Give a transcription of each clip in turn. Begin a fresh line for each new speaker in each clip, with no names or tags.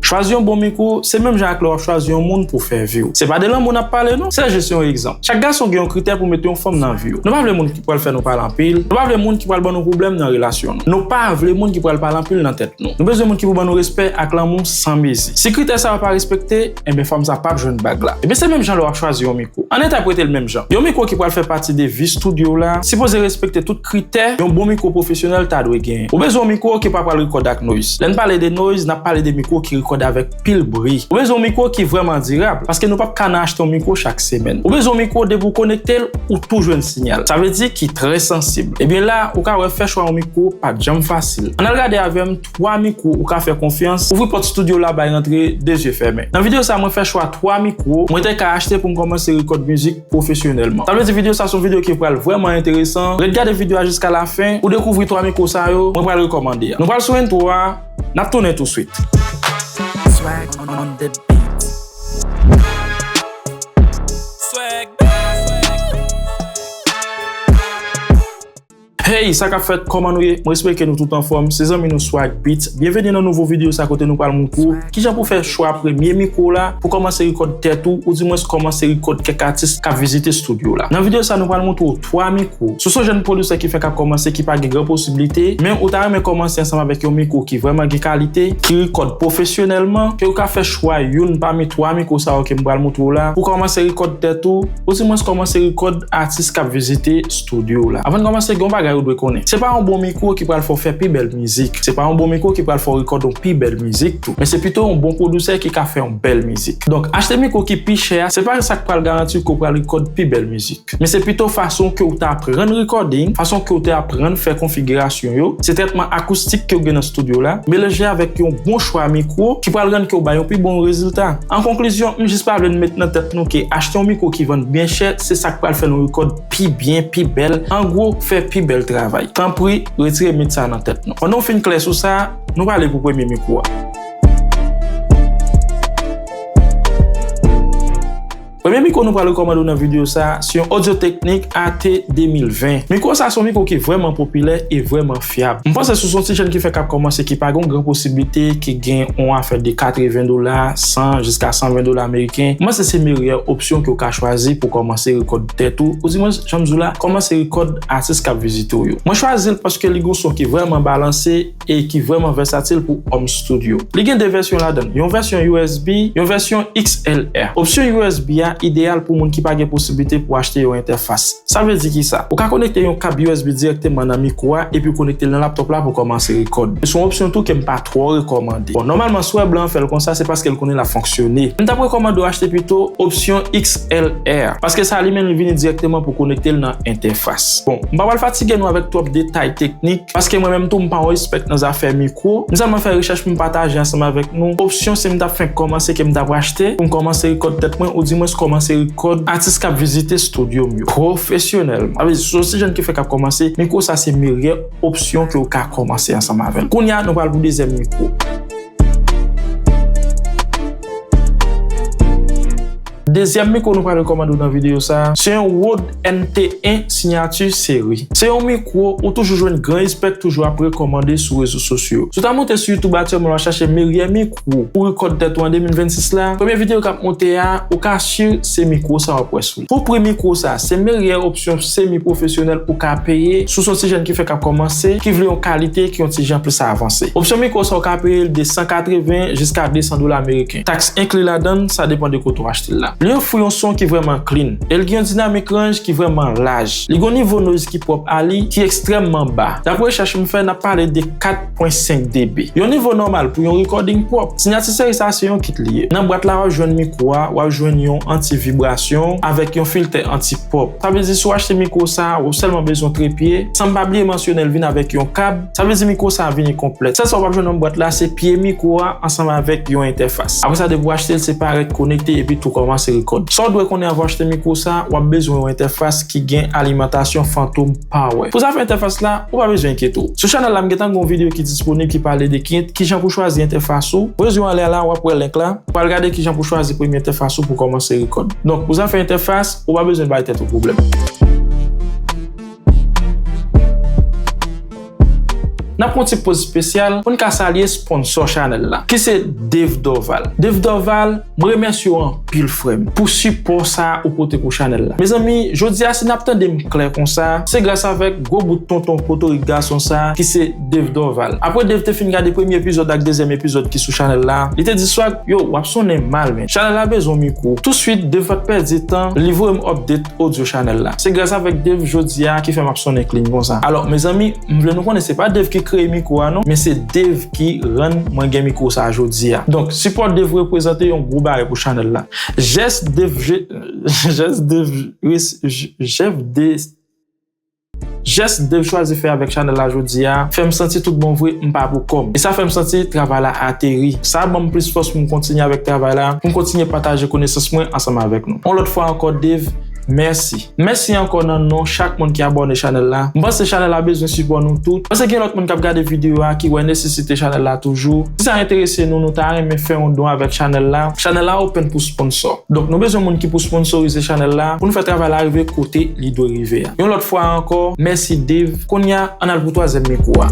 Chwazi yon bon miko, se menm jan ak lè wap chwazi yon moun pou fè vi w. Se pa de lanmou nap pale non, se jis yon egzanp. Chak gason gen yon kritè pou mete yon fanm nan vi yo. Nou pa vle moun ki pral fè nou pale anpil, nou pa vle moun ki pral ban nou pwoblèm nan relasyon nou. Nou pa vle moun ki pral pale anpil nan tèt nou. Nou bezwen moun ki pou ban nou respè ak lanmou san mezi. Si kritè sa yo pa respekte, enben fanm sa pap jwenn bag la. Ebyen se menm jan lè wap chwazi yon mikwo. Ann entèprete l menm jan. Yon mikwo ki pral fè pati de vi studio w la, sipoze respekte tout kritè yon bon mikwo pwofesyonèl ta dwe genyen. Ou bezwen yon mikwo ki pa pral rekòde ak noise. Lè n pale de noise, n ap pale de mikwo ki rekòde avèk pil bri. Ou bezwen yon mikwo ki vrèman dirab, paske nou pap ka nan achte yon mikwo chak semèn. Ou bezwen yon mikwo depi w konekte l, ou tou jwenn sinyal. Sa vle di ki trè sansib. Ebyen la, ou ka wè fè chwa yon mikwo pat janm fasil. Ann al gade avè m. 3 mikwo ou ka fè konfyans. Ouvri pòt studio w la bay rantre 2 zye fèmen. Nan video sa mwen fè chwa 3 mikwo mwen te ka achte pou m kòmanse rekòd mizik pwofesyonèlman. Sa vle di video sa son video ki pral vrèman enteresan. Ret gade video a jiska lafen pou dekouvri 3 mikwo sa yo mwen pral rekòmande a. Nou pral sou intro a, n ap tounen touswit. Swag
on the beat.
Hey sa kap fèt kòman nou ye mwen espere ke nou tout anfòm se zanmi nou Swag Beatz byenveni nan nouvo videyo sa kote nou pral moutre w kijan pou fè chwa premye mikwo w la pou kòmanse rekòd tèt ou ou di mwens kòmanse rekòd kèk atis kap vizite studio w la nan videyo sa nou pral moutre w 3 mikwo si w son jèn pwodisè ki fèk ap kòmanse ki pa gen gran posibilite men ou ta renmen kòmanse ansanm avèk yon mikwo ki vrèman gen kalite ki rekòd pwofesyonèlman ke ou ka fè chwa youn pami 3 mikwo sa yo ke m pral moutre w la pou kòmanse rekòd tèt ou. Ou di mwens kòman se rekòd atis kap vizite studio w la. Avan n kòmanse gen yon bagay ou dwe konnen. Se pa yon bon mikwo ki pral fè w fè pi bèl mizik. Se pa yon bon mikwo ki pral fè w rekòd yon pi bèl mizik tou. Men se pito yon bon pwodusè ki ka fè yon bèl mizik. Donk achte mikwo ki pi chè a se pa sa k pral garanti w ke w pral rekòd pi bèl mizik. Men se pito fason ke w te aprann recording, fason ke w te aprann fè konfigirasyon yo, se trètman akoustik ke w gen nan studio w la, melanje avèk yon bon chwa mikwo ki pral rann ke w bay yon pi bon rezilta. An konklizyon, m jis pa vle n met nan tèt nou ke achte yon mikwo ki vann byen chè se sa k pral fè nou rekòt pi byen, pi bèl, an gwo, fè pi bèl travay. Tanpri, retire mit sa a nan tèt nou. Pandan w fin klè sou sa, nou prale pou premye mikwo a. Premye mikwo nou pral rekòmande w nan videyo sa a, se yon Audio-Technic AT2020. Mikwo sa a se yon mikwo ki vrèman popilè e vrèman fyab. M panse si w se yon ti jèn ki fèk ap kòmanse ki pa gen yon gran posiblite, ki gen yon afè de 80 dola, 100 jiska 120 dola meriken, m panse se meryè opsyon ke w ka chwazi pou w kòmanse rekòd tèt ou, oudimonch, jan m di w la, kòmanse rekòd atis k ap vizite w yo. Mwen chwazi l paske li gen yon son ki vrèman balanse. e ki vrèman vèsatil pou home studio. Li gen 2 vèsyon ladann, yon vèsyon usb, yon vèsyon XLR. Opsyon usb a ideyal pou moun ki pa gen posiblite pou achte yon entèfas. Sa vle di kisa? Ou ka konekte yon kab usb dirèkteman nan mikwo a epi w konekte l nan laptop la pou kòmanse rekòd. Se yon opsyon tou ke m pa twò rekòmande. Bon, nòmalman swè blan an fè l konsa se paske l konnen l ap fonksyone. M t ap rekòmande w achte pito opsyon XLR, paske sa li menm li vini dirèkteman pou konekte l nan entèfas. Bon, m pa pral fatige nou avèk twòp detay teknik, paske mwen menm tou m pa yon espèt nan zafè mikwo, m sèlman fè rechèch pou m pataje ansanm avèk nou opsyon si m t ap fenk kòmanse ke m t ap rachte pou m kòmanse rekòd tèt mwen ou di mwens kòmanse rekòd atis k ap vizite stodyo m yo pwofesyonèlman. Sa vle di si w se jèn ki fenk ap kòmanse, mikwo sa se meryè opsyon ke w ka kòmanse ansanm avè l. Kounye a nou pral pou dezyèm mikwo. Dezyèm mikwo nou pral rekòmande w nan videyo sa a, se yon Rode NT 1 Signature Seri. Se yon mikwo ou toujou jwenn gran espèk toujou ap rekòmande sou rezo sosyo. Si w ta monte sou YouTube aktyèlman wap chache meryè mikwo pou rekòd tèt ou an 2026 la, premye videyo kap monte a, ou ka sur se mikwo sa wap wè sou li. Pou pri mikwo sa, se meryè opsyon semi pwofesyonèl ou ka peye si w se yon ti jèn ki fèk ap kòmanse, ki vle yon kalite ki yon ti jan plis avanse. Opsyon mikwo sa ou ka peye l de 180 jiska 200 dola ameriken. Tax enkli ladan l, sa depan de kote w achte l la. Li ofri yon son ki vrèman clean e l gen yon dinamik ranj ki vrèman laj. Li gen yon nivo noise ki pwòp a li ki ekstrèmman ba. Dapre rechèch m fè, n ap pale de 4.5 dB. Yon nivo nòmal pou yon recording pwòp. Sinyati seri sa se yon kit li ye. Nan bwat la w ap jwenn mikwo a, w ap jwenn yon anti-vibrasyon avèk yon filtè anti-pop. Sa vle di si w achte mikwo sa, w ap sèlman bezwen trepye, san m pa bliye mansyone l vin avèk yon kab. Sa vle di mikwo sa vini konplèt. Sèl sa ou pap jwenn nan bwat la se pye mikwo a ansanm avèk yon entèfas. Apre sa depi ou achte l se pa rèk konekte epi tou kòmanse rekòd. Sa ou dwe konnen avan ou achte mikwo sa, wap bezwen yon entèfas ki gen alimantasyon Fantom Power. Pou zafè entèfas la, ou pa bezwen enkyete w. Sou chanèl la m gentan gen yon videyo ki disponib ki pale de kijan pou chwazi entèfas ou. Voye zye w anlè la wap wè link la pou al gade kijan pou chwazi premye entèfas ou pou kòmanse rekòd. Donk pou zafè entèfas, ou pa bezwen bay tèt ou pwoblèm. N ap fè yon ti poz spesyal pou n ka salye sponsò chanèl la ki se Dave Dorval. Dave Dorval, m remèsye w anpil frè m pou sipò sa ou pote pou chanèl la. Mezanmi, jodi a si n ap tande m klè konsa, se gras avèk gwo bout tonton potorik gason sa ki se Dave Dorval. Apre Dave te fin gade premye epizòd ak dezyèm epizòd ki sou chanèl la, li te di Swag, Yow, w ap sonnen mal men. Chanèl la bezwen w mikwo. Touswit, Dave pa t pèdi tan, li voye m update. Audio channel la. Se gras avèk Dave jodia ki fè map sonnen clean konsa. Alò mezanmi m vle nou konnen se pa Dave ki kreye mikro a non men se Dave ki rann mwen gen mikro sa jodia. Donk sipò Dave repwezante yon gwo bagay pou channel la. Jès Dave jès Dave jès Dave. Jès Dave chwazi fè avèk chanèl la jodi a fè m santi tout bon vre m pa pou kò m e sa fè m santi travay la ateri. Sa ban m plis fòs pou m kontinye avèk travay la, pou m kontinye pataje konesans mwen ansanm avèk nou. On lòt fwa ankò Dave, mèsi. Mèsi ankò nan non chak moun ki abòne chanèl la. M panse chanèl la bezwen sipò nou tout. Panse gen lòt moun k ap gade videyo a ki wè nesesite chanèl la toujou. Si sa enterese nou, nou ta renmen fè yon don avèk chanèl la. Chanèl la open pou sponsò. Donk nou bezwen moun ki pou sponsorize chanèl la pou nou fè travay la rive kote li dwe rive. rive a. Yon lòt fwa ankò, mèsi Dave. Kounye a, ann al pou twazyèm mikwo a.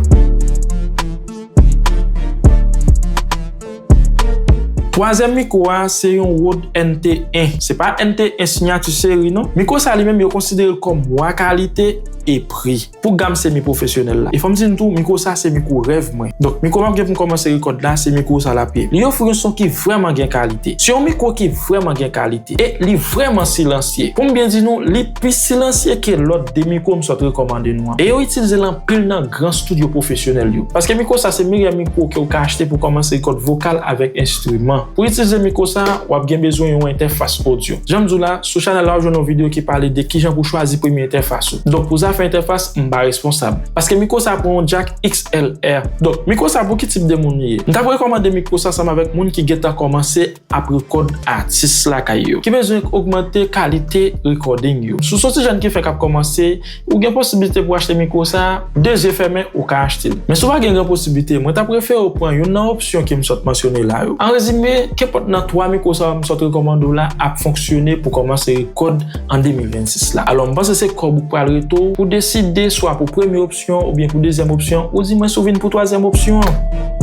Twazyèm mikwo a se yon Rode NT 1. Se pa NT 1 sinyati seri non. Mikwo sa li menm yo konsidere l kòm wa kalite e pri pou gam semi pwofesyonèl la. E fò m di n tou, mikwo sa se mikwo rèv mwen. Donk, mikwo m ap gen pou m kòmanse rekòd la, se mikwo sa l ap ye. Li ofri yon son ki vrèman gen kalite. Se yon mikwo ki vrèman gen kalite. E li vrèman silansye. Pou m byen di nou, li. Pi silansye ke lòt 2 mikwo m sot rekòmande nou an. E yo itilize l anpil nan gran studyo pwofesyonèl yo. Paske mikwo sa se meyè mikwo ke ou ka achte pou kòmanse rekòt vokal avèk enstriman. Pou itilize mikwo sa, w ap gen bezwen yon entèfas odyo. Jan m di w la, sou chanèl la ou jwenn yon videyo ki pale de kijan pou chwazi premye entèfas ou. Donk pou zafè entèfas, m pa responsab. Paske mikwo sa pran yon jack XLR. Donk, mikwo sa pou ki tip de moun li ye? M t ap rekòmande mikwo sa ansanm avèk moun ki gentan kòmanse. ap rekòd atis lakay yo ki bezwen ogmante kalite rekòding yo. Si w soti jèn ki fèk ap kòmanse, ou gen posiblite pou achte mikwo sa a, de zye fèmen ou ka achte l. Men si w pa gen gran posiblite, mwen t ap refere w pran youn nan opsyon ke m sot mansyone la yo. An rezime, kenpòt nan 3 mikwo sa yo m sot rekòmande w la ap fonksyone pou kòmanse rekòd an 2026 la. Alò, m panse se kòb ou k pral rete w pou w deside swa pou premye opsyon oubyen pou dezyèm opsyon, ou di mwen si w vin pou twazyèm opsyon an.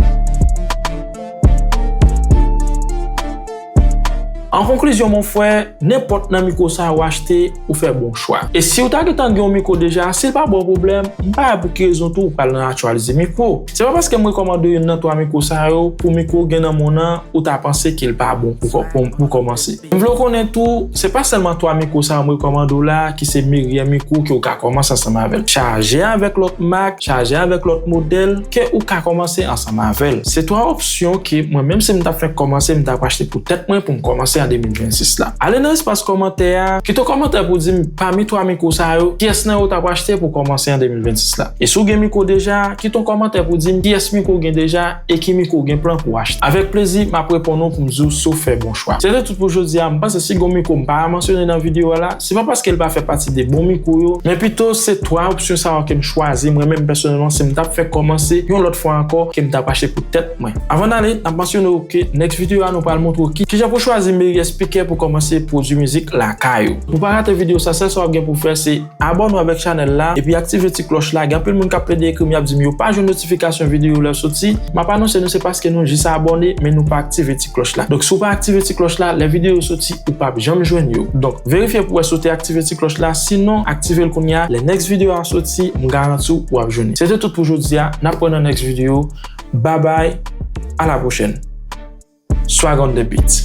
An konklizyon mon frè, nenpòt nan mikwo sa yo ou achte, ou fè bon chwa. E si ou ta gentan gen yon mikwo deja, si l pa ba w pwoblèm, m pa wè pou ki rezon tou ou pral nan aktyalize mikwo. Se pa paske m rekòmande youn nan twa mikwo sa yo pou mikwo ou gen nan monn an ou ta panse ke l pa bon pou kòmanse. M vle w konnen tou, se pa sèlman twa mikwo sa yo m rekòmande w la ki se meyè mikwo ke ou ka kòmanse ansanm avè l. Chaje avèk lòt mak, Chaje avèk lòt modèl ke ou ka kòmanse ansanm avèl. Se 3 opsyon ke mwen menm si m tap fenk kòmanse m tap achte pou tèt mwen pou m kòmanse an 2026 la. Ale nan espas kòmantè a, kite w kòmantè pou w di m pami 3 mikwo sa yo kiyès nan yo w tap achte pou w kòmanse an 2026 la. E si w gen mikwo deja, kite w kòmantè pou w di m kiyès mikwo w gen deja e ki mikwo w gen plan pou w achte. Avèk plezi map reponn ou pou m di w si w fè bon chwa. Se te tout pou jodi a, m panse si gon mikwo m pa mansyone nan video a la, Se pa paske l pa fè pati de bon mikwo yo, men pito se 3 opsyon sa yo ke m chwazi, mwen menm pèsonèlman si m tap fè kòmanse yon lòt fwa ankò ke m tap achte pou tèt mwen. Avan n ale, n ap mansyone w ke next video a nou pral montre w kijan pou chwazi meyè spikè pou kòmanse pwodui mizik lakay ou. Pou w pa rate video sa, sèl sa w ap gen pou w fè se abòne w avèk chanèl la epi aktive ti klòch la, gen anpil moun kap plede ekri m yap di m yo pa jwenn notifikasyon video yo lè yo soti, m ap anonse nou se paske nou jis abòne men nou pa aktive ti klòch la. Donk si w pa aktive ti klòch la, lè video yo soti, Ou pap janm jwenn yo. Donk verifye pou wè si w te aktive ti klòch la, sinon aktive l kounye a, lè next video a soti m garanti w wap jwenn li. Se te tout pou jodi a, nap wè nan next video, babay a la pwochèn. Swag on the beat.